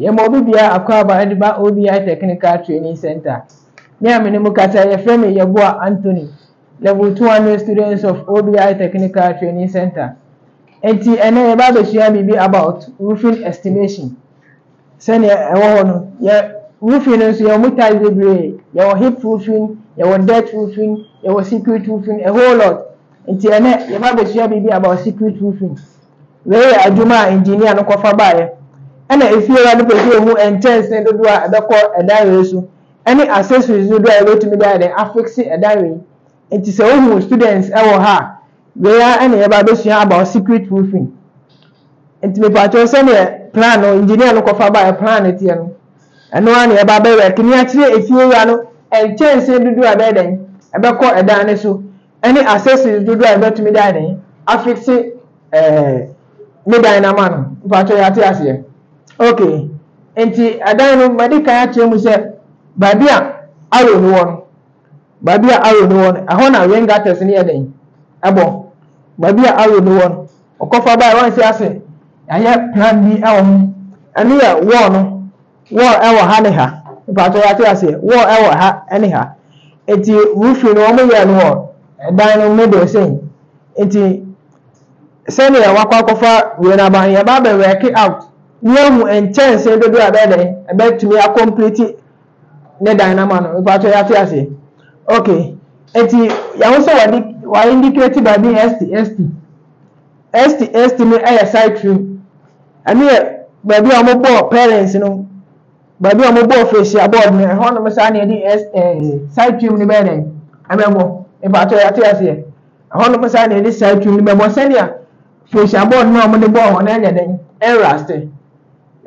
Yɛma obi bia akwaaba ɛde ba OBI Technical Training Centre. Me a me ne mo kasa yi yɛfrɛ me Yeboah Anthony, Level 200 students of OBI Technical Training Centre. Enti ɛnɛ yɛba abɛsua biribi about roofing estimation. Sɛnea ɛwɔ hɔ no, yɛn roofing no nso, yɛwɔ mu tiles bebree, yɛwɔ hip roofing, yɛwɔ dirt roofing, yɛwɔ secret roofing, a whole lot. Nti ɛnnɛ, yɛba abɛsua biribi about secret roofing. Wei yɛ adwuma a engineer no kɔfa baeɛ. Ɛna efiewura no pɛ sɛ ohu nkyɛnsee dodoɔ a ɛbɛkɔ ɛdan wei so, ɛne accessories dodoɔ a yɛbɛtumi de ayɛ dɛn, afixe ɛdan wei. Nti sɛ wo hu students wɔ ha a wei ara na yɛba abɛsua about secret roofing nti me pakyɛw sɛdeɛ plan no engineer no kɔfa baeɛ plan no teɛ no ɛno ara na yɛba abɛ rɛk ni akyerɛ efie wura no nkyɛnsee dodoɔ a ɛbɛyɛ dɛn ɛbɛkɔ ɛdan no so ɛne accessories dodoɔ a yɛbɛtumi de ayɛ dɛn afixe ɛɛ ne dan no ama no me pakyɛw yɛate aseɛ ok nti ɛdan no madi kan akyerɛ mu sɛ baabi a arrow no wɔ no. Baabi a Aaron wɔ no, ɛhɔ na ring artist no yɛ dɛn? Ɛbɔ. Baabi a Aaron wɔ no, ɔkɔfa bae, wansi ase. Yɛayɛ plan bi wɔ ho. Ɛno yɛ wall no. Wall wɔ ha ne ha. Mpakyɛ yɛate aseɛ. Wall wɔ ha ne ha. Eti roofing no wɔn yɛɛ no wɔ dan no middle sɛn. Eti sɛdeɛ wakɔ akɔfa wei no aba no, yɛba abɛ work out. Ne yɛahu nkyɛnsee dodoɔ a ɛbɛyɛ dɛn, ɛbɛtumi akɔmplete Ne dan no ama no mpatsɔ yɛatse ase ok ntsi yɛahu sɛ wɔde wɔa indicate baabi st st st st no yɛ citrine ɛno yɛ baabi a wɔn bɔɔ parents no baabi a wɔn bɔɔ facial board no ɛhɔ nom saa na yɛde s ɛɛ citrine no bɛyɛ dɛn ɛbɛbɔ mpatsɔ yɛatse aseɛ ɛhɔ nom saa na yɛde citrine no bɛbɔ sɛnea facial board no a wɔde bɔɔ hɔ no ɛnyɛ dɛn ɛnraste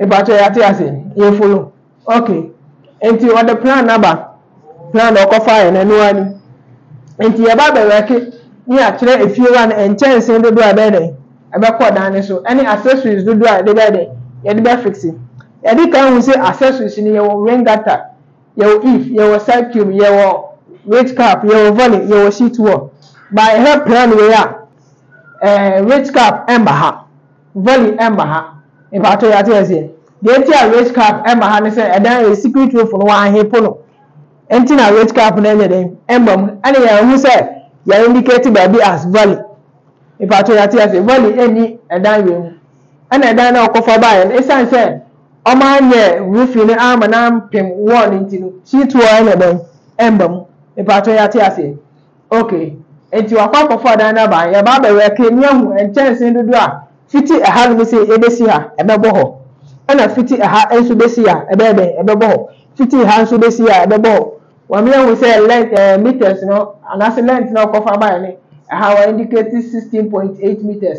mpatsɔ yɛatse aseɛ yɛfolo. Ok nti ɔde plan aba plan a ɔkɔfaeɛ no ɛno ara ni nti yɛba abɛwɛke ne yɛakyerɛ efiewa no nkyɛnsee dodoɔ a ɛbɛyɛ dɛn ɛbɛkɔ dan no so ɛne accessories dodoɔ a yɛde bɛyɛ dɛn yɛde bɛfixe yɛde kan hu sɛ accessories no yɛwɔ rain gutter yɛwɔ if yɛwɔ side cube yɛwɔ rich cap yɛwɔ volley yɛwɔ sheet wall by ɛhɛ plan wei a ɛɛ rich cap ɛmma ha. Valley ɛmma ha. Mpakyɛw yɛate aseɛ. Deɛ nti a race cab ɛmma ha ne sɛ ɛdan yɛ secret roof no wɔanhe po no nti na race cab no ɛnyɛ dɛn ɛmma mu ɛne yɛn ahu sɛ yɛ indicate baabi as valley. Mpakyɛw yɛate aseɛ. Valley ɛnni ɛdan wei mu. Ɛna ɛdan no a ɔkɔfa baeɛ no ɛsiane sɛ wɔn anyɛ roofing no amma no ampem wall no nti no sheet wall ɛnyɛ dɛn ɛmma mu. Mpakyɛw yɛate aseɛ. Okay, enti wakɔ akɔfa dan no aba, yɛba abɛwɛke na yɛahu nkyɛnsee dodoɔ a fiti ɛha no mese yɛbɛsi ha, ɛbɛbɔ hɔ, ɛna fiti ɛha nso bɛsi ha, ɛbɛyɛ dɛn, ɛbɛbɔ hɔ, fiti ha nso bɛsi ha, ɛbɛbɔ hɔ. Wɔn ahu sɛ length ɛɛ metres no anaase length no a ɔkɔfa baeɛ no, ɛha wa indicate sixteen point eight metres.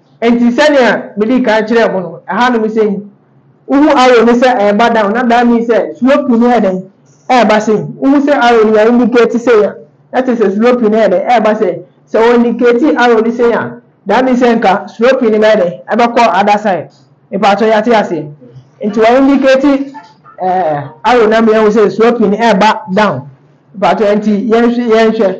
Enti sɛnea midii kan kyerɛɛ mo no, ɛhanom sɛn? Wuhu arrow no sɛ ɛreba down, na that means sɛ sloping no yɛ dɛn? Ɛreba sɛn? Wuhu sɛ arrow no yɛ indicate sɛn a, na kyerɛ sɛ sloping no yɛ dɛn? Ɛreba sɛn? Sɛ wɔ indicate arrow no sɛn a, that means sɛ nka sloping no bɛyɛ dɛn? Ɛbɛkɔ other side. Mepaatɔ yɛate aseɛ? Nti wɔ indicate eh, arrow no ama yɛahu sɛ sloping no ɛreba down. Mepaatɔ nti yɛnhwɛ, yɛnhwɛ.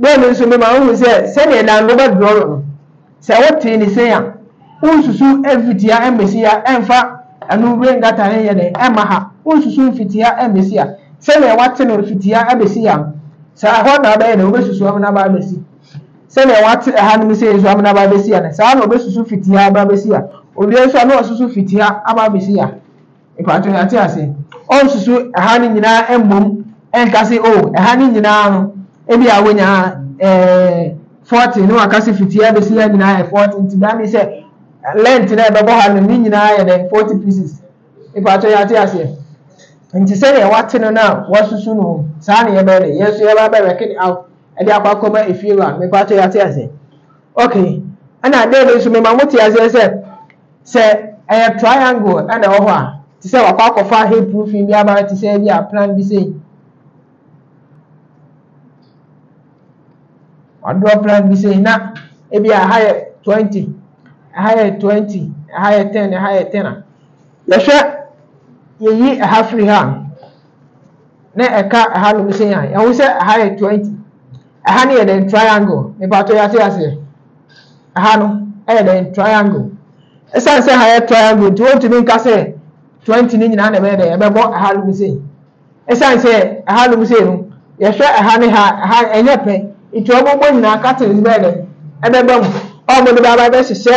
Dɛm no so bɛma woahu sɛ sɛdeɛ nango bɛ dorɔro no, sɛ wotee ne sei a, wonsusu mfitia mmɛsi a ɛmfa ɛno rengata ɛnyɛ dɛn ɛmma ha, wonsusu mfitia mmɛsi a, sɛdeɛ wate no mfitia abɛsi ha no, saa ara hɔ na abɛyɛ dɛn wobɛsusu amena aba abɛsi, sɛdeɛ wate ɛha nom sei nso amena aba abɛsi ha no, saa ara na ɔbɛsusu fitia aba abɛsi ha, owia nso a na wasusu fitia aba abɛsi ha. Mpakyɛw yɛate ase. Ɔnsusu ɛha no nyinaa mmom nka se oh ɛha no nyinaa no ebia wanya ɛɛ forty na waka se fiti ha besi ha nyinaa yɛ forty nti that means sɛ length na ɛbɛbɔ ha no ne nyinaa yɛ dɛn forty pieces. Mpakyɛw yɛate aseɛ. Nti sɛdeɛ wate no na wasusu no saa na yɛbɛyɛ dɛn yɛn nso yɛba bɛ work it out ɛde akɔ akɔma efiewura no. Mpakyɛw yɛate aseɛ. Okay ɛna dɛn bi nso mema mote aseɛ sɛ Sɛ ɛyɛ triangle na ɛwɔ hɔ a, te sɛ wakɔ akɔfa hemp roofing bi aba te sɛ ebi a plan bi sei. Wadraw plan bi sei na ebi a ɛha yɛ 20, ɛha yɛ 20, ɛha yɛ 10, ɛha yɛ 10 a. Yɛhwɛ yɛyi ɛha firi ha a, na ɛka ɛha nom sɛ yan ɛho sɛ ɛha yɛ 20 ɛha no yɛ dɛn triangle mepatɔ yɛate aseɛ ɛha no ɛyɛ dɛn triangle ɛsiane sɛ ɛha yɛ triangle nti wɔntumi nka sɛ 20 no nyinaa na ɛbɛyɛ dɛn ɛbɛbɔ ɛha nom sei ɛsiane sɛ ɛha nom sei no yɛhwɛ ɛha ne ha ɛha ɛnyɛ pɛ nti wɔbɛbɔ nyinaa katins bɛyɛ dɛn ɛbɛbɛ mu ɔmo de bɛaba bɛhyehyɛ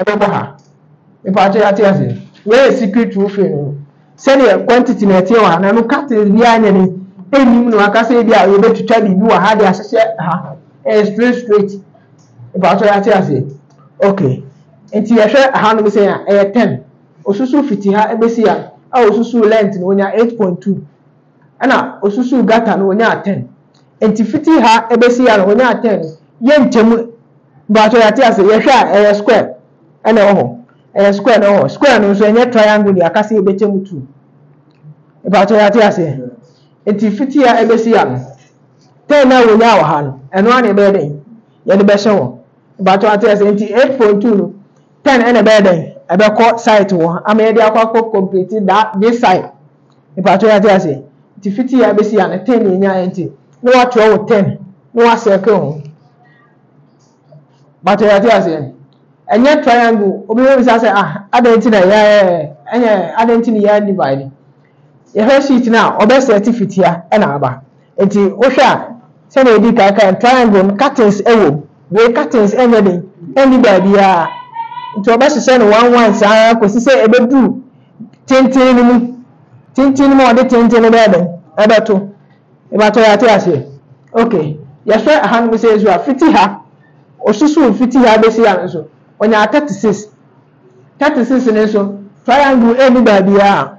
Ɛbɛba ha. Mepakyɛ yɛate aseɛ. Wei yɛ secret roofing no. Sɛdeɛ quantity na ɛteɛ wɔ ha na no curtains biara nyɛ den. Ɛnnim no aka sɛ ebi a yɛbɛtwitwa biribi wɔ ha de ahyehyɛ ha. Ɛyɛ straight straight. Mepakyɛ yɛate aseɛ. Okay. Nti yɛhwɛ ha nom sɛ a ɛyɛ ten. Osusu fiti ha ɛbɛsi ha a osusu length no onya eight point two. na osusuu gutter no onyaa ten nti fiti ha ebesi ha no onyaa ten no yɛ nkyɛm mpatsɔ yɛate ase yɛhwɛ a ɛyɛ square ɛna ɛwɔ hɔ ɛyɛ square na ɛwɔ hɔ square no nso ɛnyɛ triangle deɛ aka sɛ yɛbɛkyɛ mu two mpatsɔ yɛate ase nti fiti ha ebesi ha no ten na onyaa wɔ ha no ɛno ara na ɛbɛyɛ dɛn yɛde bɛhyɛ hɔ mpatsɔ yɛate ase nti eight point two no ten ɛna ɛbɛyɛ dɛn ɛbɛkɔ site wɔ ama yɛde akɔ akɔ complete that this side. Mpakyɛw yɛate ase? Nti fiti ya besi ya no ten na yɛnyaeɛ nti na wakyerɛ wo ten na wa circle ho. Mpakyɛw yɛate aseɛ? Ɛnyɛ triangle obi bɛ bisa sɛ ah adɛn nti na yɛ ɛnyɛ adɛn nti na yɛ divide. Yɛhwɛ sheet no a ɔbɛ set fitia ɛna aba. Enti wohwɛ a, sɛnea yɛdii kan kae no, triangle no, curtains wom. Wei curtains nyɛ den, ɛnni baabiara. Nti wɔbɛhyehyɛ no one one saa ara kɔsi sɛ ɛbɛduru tenten no mu. Tenten no mu a wɔde tenten no bɛyɛ dɛn? Ɛbɛto. Mebatɔ yɛate aseɛ. Ok, yɛhwɛ ɛhanom sɛ nso a, fiti ha, ɔsusuu fiti ha bɛsi ha no nso, ɔnyaa thirty six. Thirty six no nso, triangle ɛnni baabiara.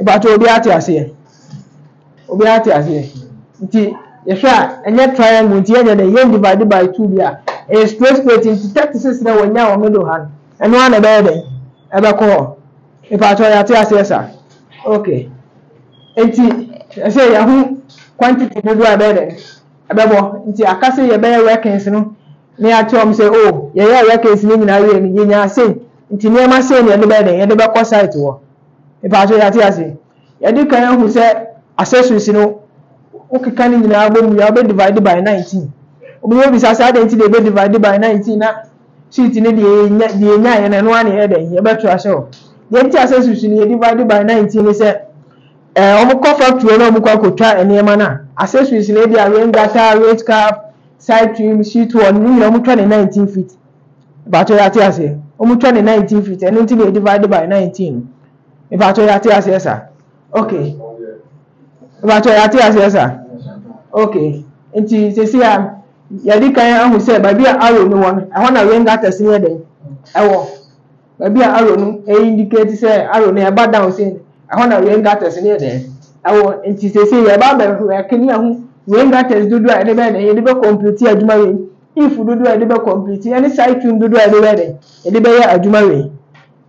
Mpakyɛw obiara tse aseɛ? Obiara tse aseɛ? Nti yɛhwɛ a ɛnyɛ triangle nti yɛnyɛ dɛ yɛn divide by two bi a ɛyɛ straight straight nti thirty six na wɔnya wɔ middle ha no ɛno ara na ɛbɛyɛ dɛn ɛbɛkɔ hɔ mpakyɛw yɛate aseɛ sa okay nti ɛsɛ yɛho quantity dodoɔ a ɛbɛyɛ dɛn ɛbɛbɔ nti aka sɛ yɛbɛyɛ workings no. Na yɛakyerɛ wɔn sɛ, Oh, yɛyɛ a yɛaka asi no nyinaa awie no, yenyaa sei, nti nneɛma sei na yɛde bɛyɛ dɛn? Yɛde bɛkɔ site hɔ. Me pa kyɛw, yɛate ase? Yɛde kan ahu sɛ accessories no, wokeka ne nyinaa bɔ mu wie a, wobɛ divide by nineteen. Obi bɛbisa sɛ, adɛn nti na yɛbɛ divide by nineteen na sheet no deɛ yɛnya, deɛ yɛnyaeɛ no, ɛno ara na yɛyɛ dɛn? Yɛbɛto ahyɛ hɔ. Deɛ nti accessories no yɛ divide by nineteen ne sɛ, ɛɛ, wɔkɔ factory hɔ na wɔkɔ akɔtwa nneɛma no a, accessories no ebi a rain gutter, race cap, Side trim, sheet one, ne nyinaa wɔtwa ne nineteen feet. Mepakyɛ yɛ ate aseɛ? Wɔtwa ne nineteen feet, ɛno nti na yɛ divide by nineteen no. Mepakyɛ yɛ ate aseɛ sa? Okay. Mepakyɛ yɛ ate aseɛ sa? Okay. Nti sisi a yɛde kan ahu sɛ baabi a arrow no wɔ no, ɛhɔ na ring attest no yɛ dɛn? Ɛwɔ. Baabi a arrow no indicate sɛ arrow no ɛba down sei no, ɛhɔ na rain gutters no yɛ dɛn? Ɛwɔ. Nti seesei yɛreba abɛwɛke ne ahu rain gutters dodoɔ a yɛde bɛyɛ dɛn? Yɛde bɛ complete adwuma wei. If dodoɔ a yɛde bɛ complete ɛne side tune dodoɔ a yɛde bɛyɛ dɛn? Yɛde bɛyɛ adwuma wei.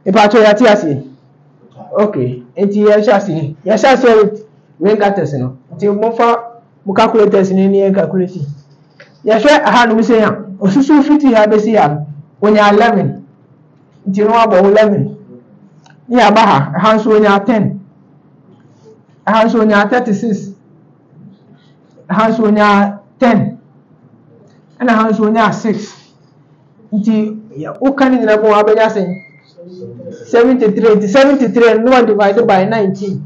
Mpakyɛw yɛate aseɛ? Okay, nti yɛhyɛ aseɛ. Yɛhyɛ aseɛ with rain gutters no. Nti mofa. Mo calculators no ni yɛn calculate. Yɛhwɛ ha no mesei ha, osusuw fiti ha besi ha no, onya eleven. Nti no abɔ eleven. Ne yɛaba ha, ha nso onya ten. Ha nso onya thirty six. Ha nso onya ten. Ɛna ha nso onya six. Nti woka ne nyinaa bɔ abɛnya sɛn? Seventy three. Nti seventy three no na divide by nineteen.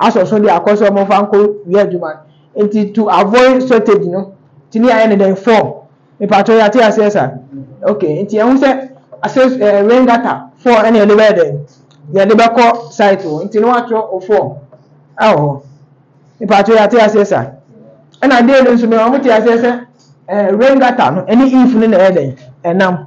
asɔ so de akɔ sɛ wɔmfa nkɔ wia adwuma no nti to avoid shortage no tumi ayɛ ne dɛn form mepatwɛ yɛate aseɛ sa ok nti ɛho sɛ asɛ eh, rain gutter form ɛne yɛde bɛyɛ dɛn yɛde bɛkɔ site hɔ nti no watwerɛ o form ɛwɔ hɔ mepatwɛ yɛate aseɛ sa ɛna deɛ no nso mɛ wɔn te aseɛ sɛ eh, rain gutter no ɛne if no na ɛyɛ dɛn ɛnam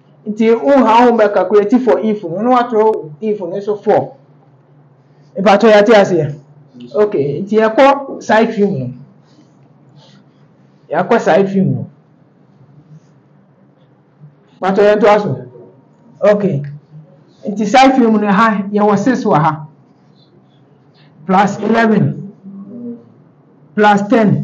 Nti wo ha wo bɛ calculate for if no na watwerɛ if no so for mpakyɛ yɛate aseɛ ok nti yɛkɔ side trim no yɛakɔ side trim no mpakyɛ yɛnto aso ok nti side trim no ha yɛwɔ 6 wɔ ha plus 11 plus 10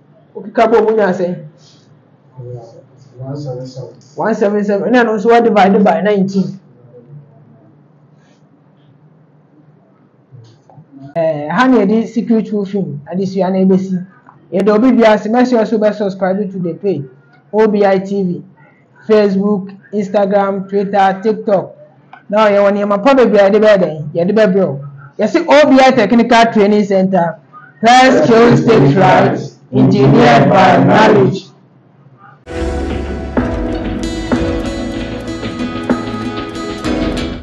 Wokeka bom wonya asɛn. One seven seven. Ɛna no nso wa divide by nineteen. Ɛɛ ha na yɛde secret roofing adesua na ebesi. Yɛde obi bi ase mɛsɛ ɔso bɛ subscribe to the page OBI TV. Facebook, Instagram, Twitter, TikTok. Now yɛwɔ nneɛma pa bebree a yɛde bɛyɛ dɛn? Yɛde bɛbrɛ wo. Yɛse OBI Technical Training Center, Prayer Skills Tapes Right, Engineered by Knowledge.